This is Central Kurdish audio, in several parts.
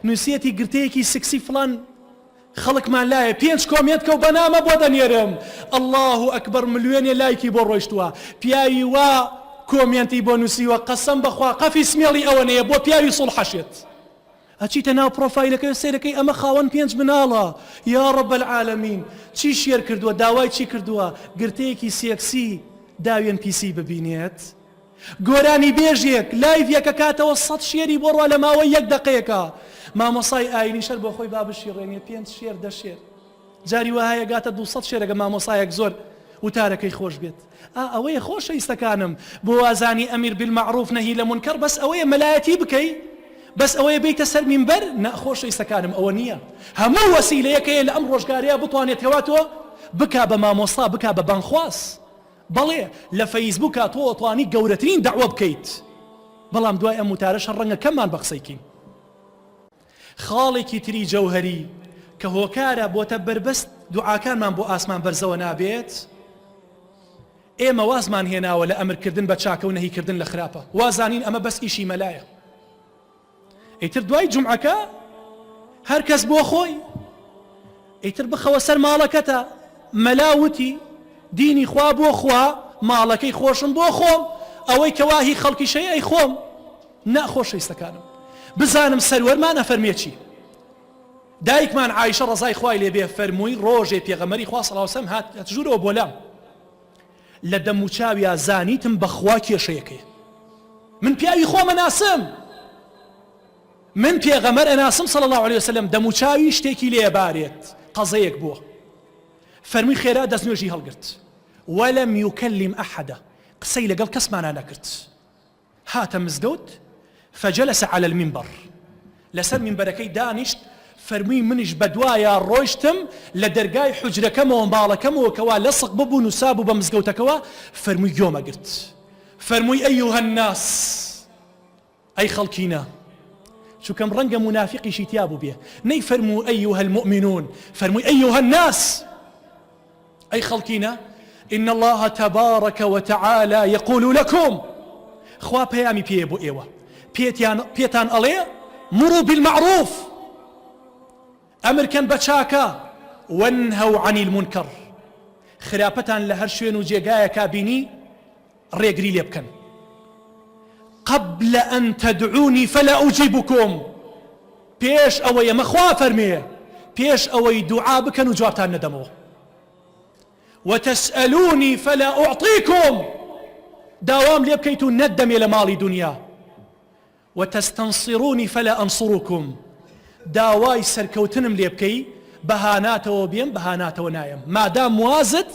نوسیەتی گرتەیەکی سکسی فڵان خەڵکمان لایە پێنج کۆمێنتکە و بەنامە بۆ دەنێرم اللە اکبر ملوێنێ لایکی بۆ ڕۆیشتوە پیاوی وا کۆمێنتی بۆ نوسیوە قەسەم بەخوا قەفی سمێڵی ئەوەنەیە بۆ پیاوی سوڵحەشێت ئەچیتە ناو پرۆفایلەکەی سەیرەکەی ئەمە خاوەن پێنج مناڵە یا رب العالمین چی شێر کردووە داوای چی کردووە گرتەیەکی سێکسی داوێن پیسی ببینێت گۆرانیبێژێک لایڤ یەکە کاتەوە سەد شێری بۆ ڕوا لەماوەی یەک دەقەیەکا مامۆسای ئاینی شەر بۆخۆی با بشیڕێنێ پێنج شێر دە شێر جاری وەهایە گاتە دوو سەد شێرەگە مامۆسایەک زۆر وتارەکەی خۆش بێت ئا ئەوەیە خۆشەویستەکانم بۆ وازانی ئەمیر بالمعروف نەهی لە منکەر بەس ئەوەیە مەلایەتی بکەی بەس ئەوەیە بیتە سەر مینبەر نا خۆشەویستەکانم ئەوە نییە هەموو وەسیلەیەک هەیە لە ئەم ڕۆژگارەیا بتوانێت هەوا تۆ بکا بە مامۆستا بکا بە بانگخواز بەڵێ لە فەیسبوکا تۆ ئەتوانی گەورەترین دەعوە بکەیت بەڵام دوای ئەم وتارەشە ڕەنگە کەممان بە قسەی کین. خاڵێکی تری جەوهەری کە هۆکارە بۆتە بەربەست دوعاکانمان بۆ ئاسمان بەرزەوە نابێت ئێمە وازمان هێناوە لە ئەمرکردن بە چاکە و نەهیکردن لە خراپە وازانین ئەمە بەس ئیشی مەلایە ئیتر دوای جومعەکە هەر کەس بۆ خۆی ئیتر بخەوە سەر ماڵەکەتە مەلا وتی دینی خوا بۆ خوا ماڵەکەی خۆشم بۆ خۆم ئەوەی کەواهی خەڵکی شەی ئەی خۆم ناخۆشەویستەکانم بزانم سەروەرمان ئەفەرمێکی دایکمان عیشە ڕزای خوای لێبێ فەرمووی ڕۆژێ پێغەمەری خوا سەڵاوسەم هات ژوورەوە بۆ لام لە دەموچاویا زانیتم بەخوا کێشەیەکەیە من پیاوی خۆم ئەناسم من پێغەمەر ئەناسم صلی الله علیه وسلم دەموچاوی شتێکی لێ بارێت قەزەیەک بووە فەرمی خێرا دەستنوێژی هەڵگرت ولم يكلم احدا قسەی لەگەڵ کەسمانە نەکرد هاتە مزگەوت فجلس علی المنبر لەسەر مینبەرەکەی دانیشت فەرمووی منیش بەدوایا ڕۆیشتم لە دەرگای حوجرەکەمەوە ماڵەکەمەوە کەوا لەسق ببوو نوسابوو بە مزگەوتەکەوە فەرمووی گۆمە گرت فەرمووی ئەیوهە الناس ئەی خەڵکینە چووکەم ڕەنگە مونافقیشی تیا بووبێ نەی فەرموو ئەیوهە المؤمنون فەرمووی ئەیوهە الناس ئەی خەڵکینە ان اللە تبارک و تعالی یقول لکم خوا پەیامی پێیە بۆ ئێوە پێتیان پێتان ئەڵێ مرو بالمعروف ئەمرکەن بە چاکە وەنهەو عن المنکر خراپەتان لە هەر شوێن و جێگایەکە بینی ڕێگری لێ بکەن قبل ان تدعونی فلا اجیبکم پێش ئەوە یەمە خوا فەرمێ پێش ئەوەی دوعا بکەن و جوابتان نەدەمەوە وتسألونی فلا اعطیکم داوام لێ بکەیت و نەدەمێ لە ماڵی دنیا و تستنصرونی فلا انصرکم داوای سەرکەوتنم لێ بکەی بە هاناتەوە بێم بە هاناتەوە نایەم مادام وازت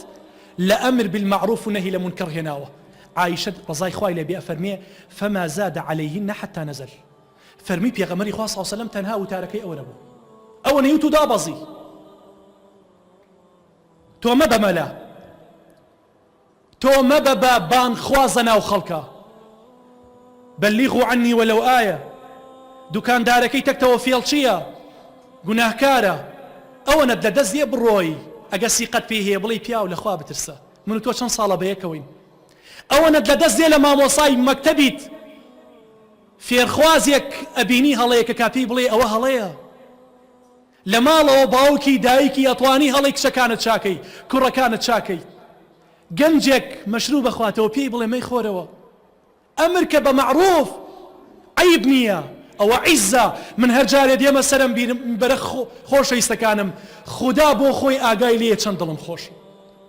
لە امر بالمعروف و نهی لمنکر هێناوە عائشە رضای خوای لێ بێ ئەفەرمێ فما زاد عليهن حتى نزل فەرمی پێغەمەری خوا صلی سلم تەنها وتارەکەی ئەوە نەبوو ئەوە نەیوت و دابەزی تۆ مەبە مەلا تۆ مەبە بە بانگ خوازە ناو خەڵکا بلغو عنی ولو ئایە دوکاندارەکەی تەکتەوە فێڵچیە گوناهکارە ئەوەنەت لە دەست دێ بڕۆی ئەگە سیقەت پێی هەیە بڵێی پیاو لە خوا بترسە من و تۆ چەند ساڵە بەیەکەوەین ئەوەنەت لە دەست دێ لە مامۆسای مەکتەبیت فێرخوازێک ئەبینی هەڵەیەکە کا پێی بڵێ ئەوە هەڵەیە لە ماڵەوە باوکی دایکی ئەتوانی هەڵەی کچەکانت چاکەی کوڕەکانت چاکەی گەنجێک مەشروب بخواتەوە پێی بڵێ مەی خۆرەوە ئەمر کە بە مەعروف عیب نییە ئەوە عیزە من هەر جارێ دێمە سەرم بیرم بەرە خۆشەویستەکانم خودا بۆ خۆی ئاگای لێ چەند دڵم خۆش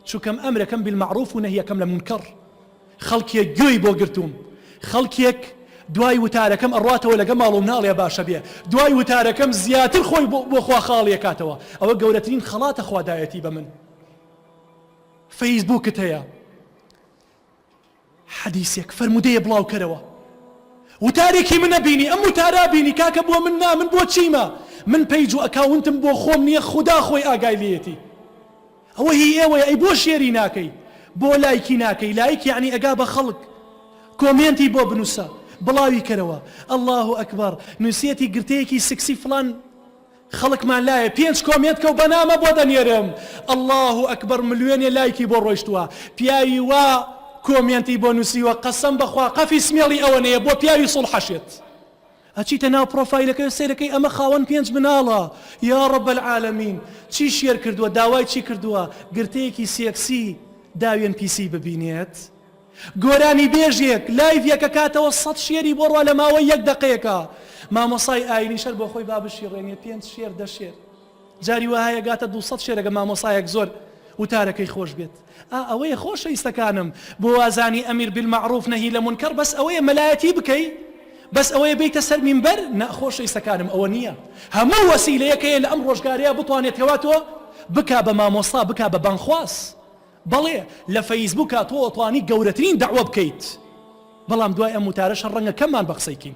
چووکەم ئەمرەکەم بالمەعروف و نەهیەکەم لە مونکەڕ خەڵکێک گوێی بۆ گرتووم خەڵکێک دوای وتارەکەم ئەڕاتەوە لەگە ماڵ و مناڵێ باشە بێ دوای وتارەکەم زیاتر خۆی بۆ خوا خاڵیەکاتەوە ئەوە گەورەترین خەڵاتە خوادایەتی بە من فەیسبووکت هەیە حەدیسێک فەرمودەیە بڵاوکەرەوە وتارێکی منە بینی ئەم وتارا بینی کاکە بۆ من نا من بۆ چیمە من پەیج و ئەکاونتم بۆ خۆم نییە خوددا خۆی ئاگای لێتی ئەوە هی ئێوەیە ئەی بۆ شێری ناکەی بۆ لایکی ناکەی لایک یەعنی ئەگا بە خەڵک کۆمێنتی بۆ بنوسە بڵاوی کەرەوە اللە اکبر نوسێتی گرتەیەکی سکسی فڵان خەڵکمان لایە پێنج کۆمێنت کەو بەنامە بۆ دەنێرم اللە اکبر ملوێنێ لایکی بۆ ڕۆشتوە پیاوی وا کۆمێنتی بۆ نوسیوە قەسەم بەخوا قەفی سمێڵی ئەوەنەیە بۆ پیاوی سوڵحەشێت. ئەچیتە ناو پڕۆفایلەکەی و سەیرەکەی ئەمە خاوەن پێنج مناڵە یا رب العالمین چی شێر کردووە داوای چی کردووە گرتەیەکی سێکسی داوێن پیسی ببینێت گۆرانی بێژێک لایڤێک کەکاتەوە سەد شێری بۆ ڕوا لە ماوەی یەک دەقەیەکە مامۆسای ئاینیش هەر بۆ خۆی با بشیڕێنێ پێنج شێر دە شێر جاری وا هەیە گاتە دوو سەد شێرەگە مامۆسایەک زۆر وتارەکەی خۆش بێت ئا ئەوەیە خۆشەیستەکانم بۆ وازانی ئەمیر بالمعروف نەهی لە منکەڕ بەس ئەوەیە مەلایەتی بکەی بەس ئەوەیە بێیتە سەر مینبەر نا خۆشەیستەکانم ئەوە نییە هەموو وەسیلەیەک هەیە لە ئەم ڕۆژگارەیا بتوانێت هەوا تۆ بکا بە مامۆستا بکا بە بانگخواز بەڵێ لە فەیسبووکا تۆ ئەتوانی گەورەترین دەعوە بکەیت بەڵام دوای ئەم وتارەشە ڕەنگە کەممان بە قسەی کین